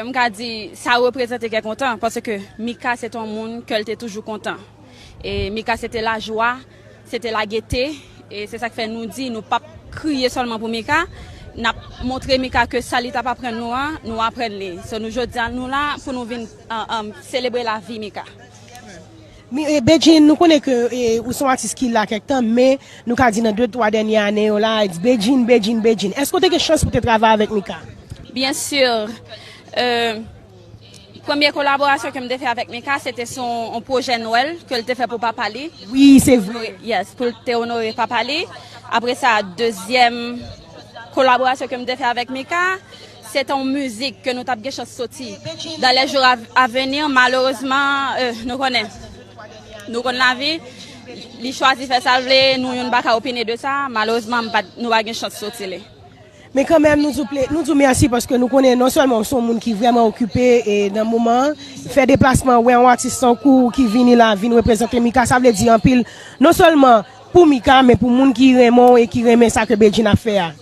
Mwen ka di sa reprezante kè kontan paske Mika se te yon moun kè l te toujou kontan. E Mika se te lajwa, se te lagete. E se sa k fè nou di nou pap kriye sèlman pou Mika. N ap montre Mika ke sa li t ap aprann nou an, nou aprann li. So nou jodi a nou la pou nou vin selebre lavi Mika. Bedjine nou konnen ke ou son atis ki la kèk tan men nou ka di nan 2 3 dènye ane yo la Bedjine Bedjine Bedjine èske ou te gen chans pou te travay avèk Mika? Byen sur premye kolaborasyon kem te fè avèk Mika se te sou yon pwojè nwèl kel te fè pou papa li Wi se vre Yes poul te onore papa li apre sa dezyèm kolaborasyon kem te fè avèk Mika Se te yon mizik ke nou tap gen chans soti dan lè jou a veni, malerezman nou konnen, nou konn lavi, li chwazi fè sa l vle, nou youn pa ka opine de sa, malerezman nou pa gen chans soti li. Men kanmenm nou di w mèsi paske nou konnen non sèlman w se yon moun ki vrèman okipe nan moman an, fè deplasman wè yon atis tankou w ki vini la vin reprezante Mika sa vle di anpil non sèlman pou Mika men pou moun ki renmen w e ki renmen sa ke Bedjine ap fè a.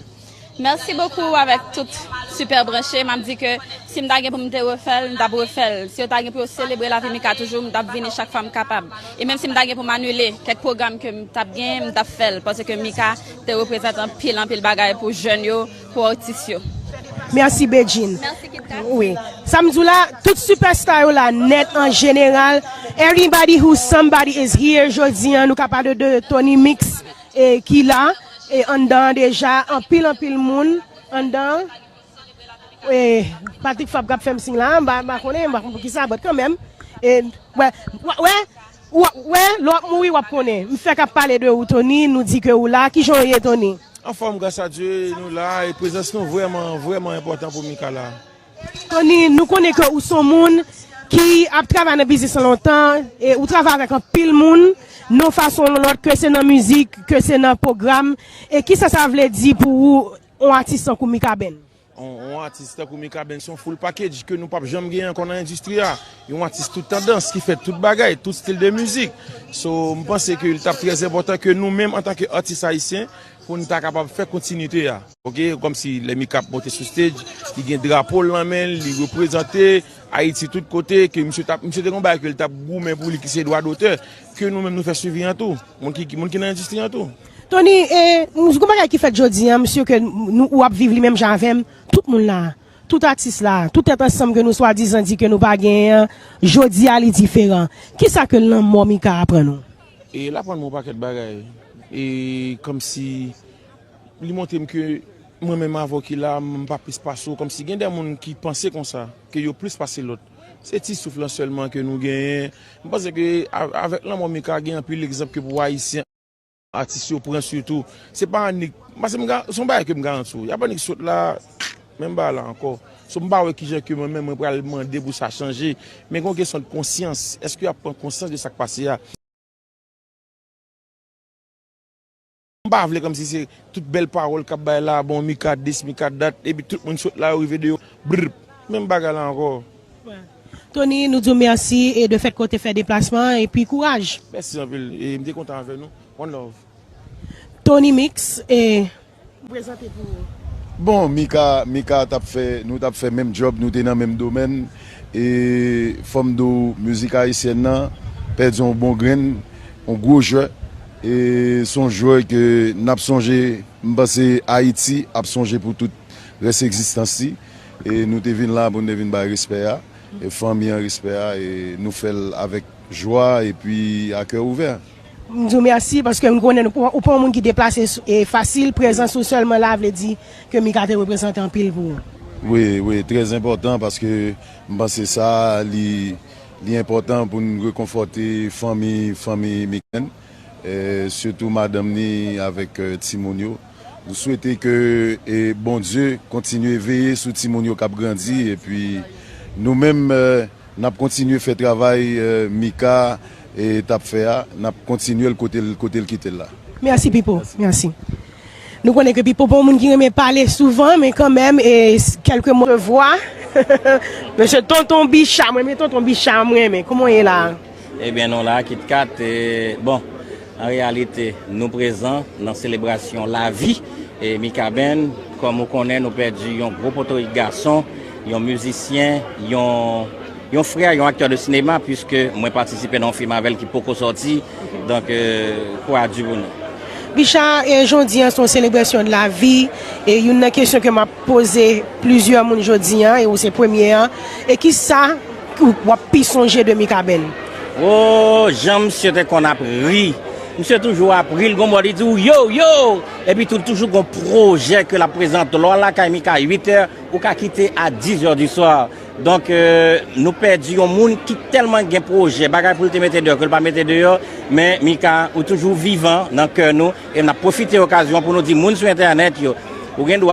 Merci beaucoup avèk tout super branche map di ke sim ta gen poum te refèl m tap refèl si yo ta gen pou yo selebre lavi Mika toujou m tap vini chak fwa m kapab e menm sim ta gen poum anile kèk program kem tap gen m tap fèl paske Mika te reprezante anpil anpil bagay pou jèn yo pou atis yo. Merci Bedjine. Merci Kit Kat. Wi Sam di w la tout super star yo la nèt an jeneral everybody who somebody is here jodi an nou ka pale de Tony mix. E ki la e anndan an deja anpil anpil moun anndan an e Patrick Fabre kap fèm siy la a m pa m pa konnen m pa konnen pou kisa but kanmenm e wè wap wè wap wè lè wap mouri wap konnen m fèk ap pale de ou Tony nou di ke ou la kijan w ye Tony? Anfòm gras a Dye nou la e prezans nou vrèman vrèman enpòtan pou Micala. Tony, nou konnen ke ou son moun ki ap travay nan biznis lan lontan, e ou travay avèk anpil moun, non fason non lòt, ke se nan mizik, ke se nan pwogram, e kisa sa vle di pou ou, on atis tankou Mikaben? On atis tankou Mikaben son full package ke nou pap janm genyen ankò nan endistri a. Yon atis tout tandans, ki fè tout bagay, tout stil de mizik. So, m panse ke li tap trè enpòtan ke nou menm antanke atis ayisyen, pou nou ta kapab fè kontinite a. Ok kom si lè mika ap monte sou stage li gen drapo l nan men l li reprezante ayiti tout kote ke misye tap misye te gen yon bagay ke li tap goumen pou li ki se dwa dotè ke nou menm nou fè swivi an tou moun ki moun ki nan endistri an tou. Tony e m s gon bagay ki fèt jodi an m si ke nou ou ap viv li menm jan avè m tout moun la tout atis la tout tèt ansanm ke nou swadizan di ke nou pa genyen an jodi a li diferan kisa ke lanmò mika aprann ou? E l aprann mwen yon pakèt bagay e kom si Li montre m ke mwen menm avè w ki la, m pa plis pase w. Kòmsi gen de moun ki panse konsa, ke yo plis pase lòt. Se ti souf lan sèlman ke nou genyen. M panse ke avèk lanmò Mika gen anpil egzanp ke pou Ayisyen, atis yo pran sitou. Se pa annik, paske m se yon bagay ke m garanti w. Y ap annik sot la, menm bagay la ankò. So m pa wè kijan ke mwen menm mwen pral mande pou sa chanje. Men gen yon kesyon de konsyans. Eske y ap pran konsyans de sa k pase a? M pa vle kòmsi se tout bèl pawòl kap bay la bon mi ka dis mi ka dat epi tout moun sot la yo rive deyò brrp menm bagay la ankò. Tony nou diw merci e de fèt ke w te fè deplasman an epi kouraj. Mèsi anpil e m te kontan avè nou one love. Tony mix e m prezante pou ou. Bon Mika Mika tap fè nou tap fè menm djòb nou te nan menm domèn e fòm di w mizik ayisyèn nan pèdi yon bon grenn On gwo jwè e son jwè ke nap sonje m panse Ayiti ap sonje pou tout rès egzistans li e nou te vin la pou nou te vin bay respè a e fanmi an respè a e nou fè l avèk jwa epi a kè ouvè. M di w mèsi paske m konnen ou pa yon moun ki deplase fasil, prezans ou sèlman la vle di ke Mika te reprezante anpil pou ou. Wi, wi, trè enpòtan paske m panse sa li. Li enpòtan pou n rekonfòte fanmi fanmi Miken, sitou madanm ni avèk timoun yo. Nou swete ke Bondye kontinye veye sou timoun yo k ap grandi epi nou menm n ap kontinye fè travay Mika t ap fè a, n ap kontinye l kote l kite l la. Mèsi Pipo, mèsi. Nou konnen ke Pipo pa yon moun ki renmen pale souvan men kanmenm e kelke mo. Vwa Mesye Tonton Bicha mwen renmen Tonton Bicha mwen renmen kouman w ye la a? Ebyen nou la a KitKat e bon an reyalite nou prezan nan selebrasyon lavi e Mikaben kòm ou konnen nou pèdi yon gwo potorik gason yon mizisyen yon yon frè yon aktè de sinema puiske mwen patisipe nan yon fim avè l ki poko sòti. Donk kou a di pou nou. Bicha e jodi an son selebrasyon de la vi e youn nan kesyon ke map poze plizyè moun jodi an e ou se premye an e kisa ou wap pi sonje de Mikaben? Woo jan misye te konn ap ri misye toujou ap ri li gon bò li di ou yow yow epi tou li toujou gon projè ke lap prezante lè w al lakay Mika 8 è ou ka kite a 10 è du soir. Donk nou pèdi yon moun ki tèlman gen pwojè, bagay pou l te mete deyò ke l pa mete deyò, men Mika ou toujou vivan nan kè nou e n ap pwofite okazyon pou nou di moun sou entènèt yo ou gen dwa.